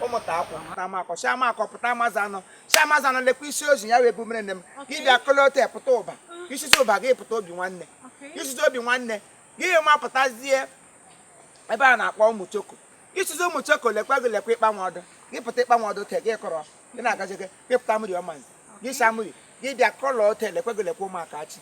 ụmụta akwụ pụta amakọ si amakọ pụta amazanọ si amazanọ lekwa isiozi ya wụ ebe a mụrụ nne m gị bịa kolote pụta ụba isisi ụba gị pụta obi nwanne isisi obi nwanne gị ma pụtazie ebe a na-akpọ ụmụ choko isisi ụmụ choko lekwa gị lekwa ịkpanwe ọdụ gị pụta ịkpanwe ọdụ te gị kọrọ gị na-agaje gị gị pụta mmiri ọmanzi gị sa mmiri gị bịa kọlọ ote lekwa gị lekwa ụmụaka achị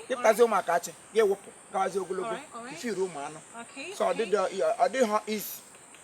gị pụtazi ụmụaka achị gị wụpụ gawazi ogologo ifiru ụmụ anụ so ọ dịghị easy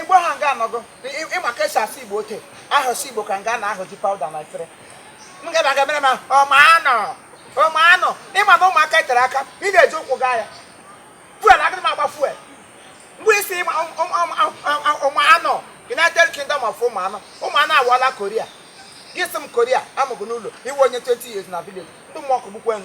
igbo ha nga anọgo ị ma ka e si asụ igbo ote ahụsụ igbo ka nga na-ahụji pawuda na efere m ga aga mere m ọmanụ ọmanụ ị ma na ụmụaka tere aka ị na-eji ụkwụ gaa ya fuel agịrị m agba fuel mgbe isi ịma ụmụanụ united kingdom of ụmụanụ ụmụanụ awụọla Korea gị sị m Korea amụgụ n'ụlọ ị wụ onye 20 years na village ndị mmụọ kụgbukwe m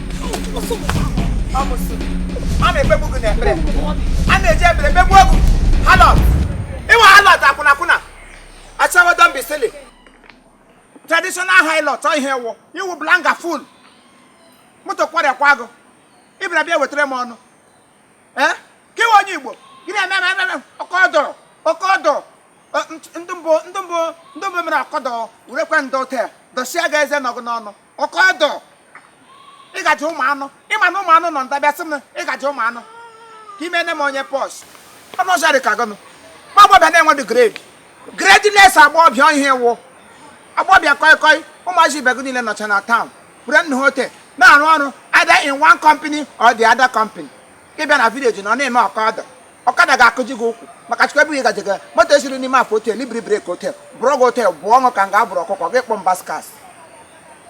a na-ekpegbu gị n'ekpere a na-eji ekpere kpegbuo gị harlot ị wụ harlot akwụnakwụna ashawo don't be silly traditional harlot ọ ihe ị wụ ị wụ blanga fool moto kwarịakwa gị ị bịara bịa wetara m ọnụ ee ka ị wụ onye igbo gị na-eme eme eme eme ọkọ dọrọ ọkọ dọrọ Ọ, nt- ndị mbụ ndị mbụ ndị mbụ mere ọkọdọ werekwa ndọ taa dọsịa gị eze nọ gị n'ọnụ ọkọdọ ịgaji ụmụ anụ ị ma na ụmụ anụ nọ ndabịa sị m ịgaji ụmụ anụ ka ime ne m onye pọs ọnụ ọzọ dị ka gọnụ ma agbọbịa na-enwedị grade gradeless agbọbịa ihe wụ agbọbịa kọị kọị ụmụazị ibe gị niile nọcha na town were nna ha ote na-arụ ọrụ either in one company or the other company ị bịa na village na ọ na-eme ọkọdọ ọkada ga-akụji gị ụkwụ maka chukwu ebe ị gaje gị moto esiri n'ime afọ otel ibiri breki otel bụrụ gị otel bụ ọṅụ ka m ga-abụrụ ọkụkọ gị kpọ mbaskas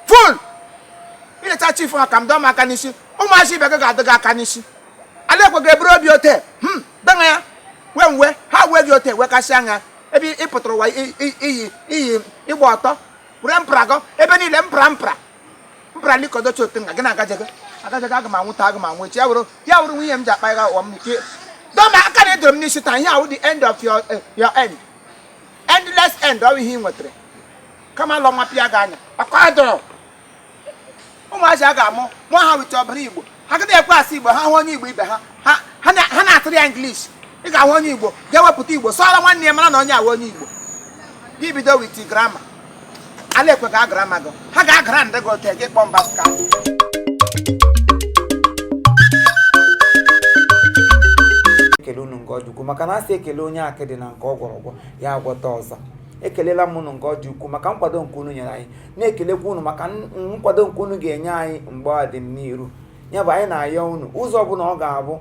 fool ileta chief ha ka m dọọ m aka n'isi ụmụazị ibe gị ga-adọ gị aka n'isi ala ekwe gị eburu obi otel hmm dana ya wee mwe ha wee gị otel wee kasịa anya ebe ị pụtara ụwa i- i- iyi iyi ịgba ọtọ were mpra gọ ebe niile mpra mpra mpụra ndị kọdọchi otu nga gị na agajaga agajaga aga m anwụ taa aga m anwụ echi ya wụrụ ya wụrụ nwunye m ji akpa ya ụwa m ike dọ m aka na edoro m n'isi taa ihe a wụ the end of your eh, your end endless end ọ bụ ihe ị nwetara kamalụ wapịa gị anya ọkọ adọrọ ụmụazị a ga-amụ amụ ha weta ọbara igbo agaghị ekwe asụ igbo ha hụ onye igbo ibe ha ha na-atụrụ ya English ị ga-ahụ onye igbo ga-ewepụta igbo sụọrọ nwanne ya mara na onye a wụ onye igbo gị bido with grammar ala ekwe ga agrama gị ha ga-agara ndị gị ote gị kpọọ mbaska ekele unu nke ọ dị ukwu maka na a sị ekelee onye akịdị na nke ọ gwọrọ agwọ ya agwọta ọzọ ekelela m unu nke ọ dị ukwu maka nkwado nke unu nyere anyị na-ekelekwa unu maka nkwado nke unu ga-enye anyị mgbe a dị n'iru ya bụ anyị na-ayọ unu ụzọ ọbụla ọ ga-abụ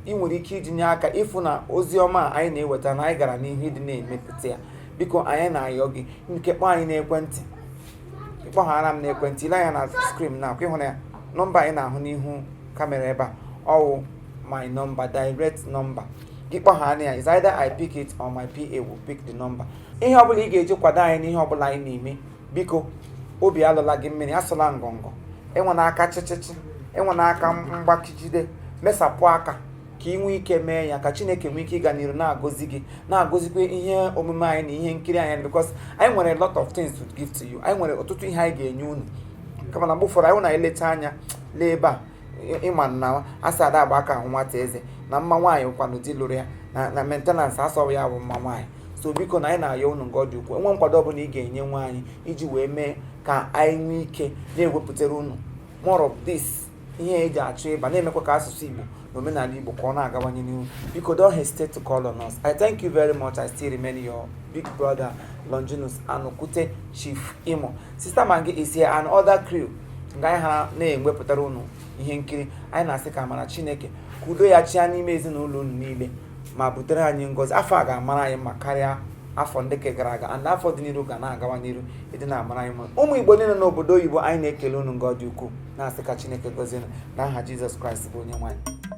ị nwere ike itinye aka ịfụ na ozi ọma anyị na-eweta na anyị gara n'ihu ịdị na-emepụta ya biko anyị na-ayọ gị nke kpọọ anyị n'ekwentị ị kpọghara m n'ekwentị i lee anya na skrin na akwa ịhụrụ ya nọmba anyị na-ahụ n'ihu kamera ebe a ọ wụ my number direct number gị kpọghara ya is either I pick it or my PA will pick the number ihe ọbụla ị ga-eji kwado anyị n'ihe ọbụla anyị na-eme biko obi alọla gị mmiri asụla ngọngọ enwena aka chịchịchị enwena aka mgbakijide mesapụ aka ka ị nwee ike mee ya ka chineke nwee ike ịga n'iru na-agọzi gị na-agọzikwa ihe omume anyị na ihe nkiri anyị because anyị nwere a lot of things to give to you anyị nwere ọtụtụ ihe anyị ga-enye unu kama na mgbe ụfọdụ anyị na-eleta anya lee ebe a ị ma na a sị ada agba aka ahụ nwata eze na mma nwaanyị wụkwanụ di lụrụ ya na maintenance a sị ọ wụ ya bụ mma nwaanyị so biko na anyị na-ayọ unu nga ọ dị ukwuu e nwee nkwado ọbụla ị ga-enyenwu anyị iji wee mee ka anyị nwee ike na-ewepụtara unu more of this ihe e ji achụ ịba na-emekwa ka asụsụ Igbo na omenala Igbo ka ọ na-agawanye n'ihu biko don't hesitate to call on us I thank you very much I still remain your big brother Longinus Anokwute Chief Imo Sister Maggi is here and other crew nga anyị ha na-ewepụtara unu ihe nkiri anyị na-asị ka amara chineke ka udo ya chịa n'ime ezinụlọ unu niile ma butere anyị ngọzi afọ a ga-amara anyị mma karịa afọ ndị ke gara aga and afọ dị n'iru ga na-agawa n'iru ịdị na-amara anyị mma ụmụ igbo niile n'obodo oyibo anyị na-ekele unu nga ọ dị ukwuu na-asị ka chineke gọzie unu na aha jizọs kraịst bụ onye nwe anyị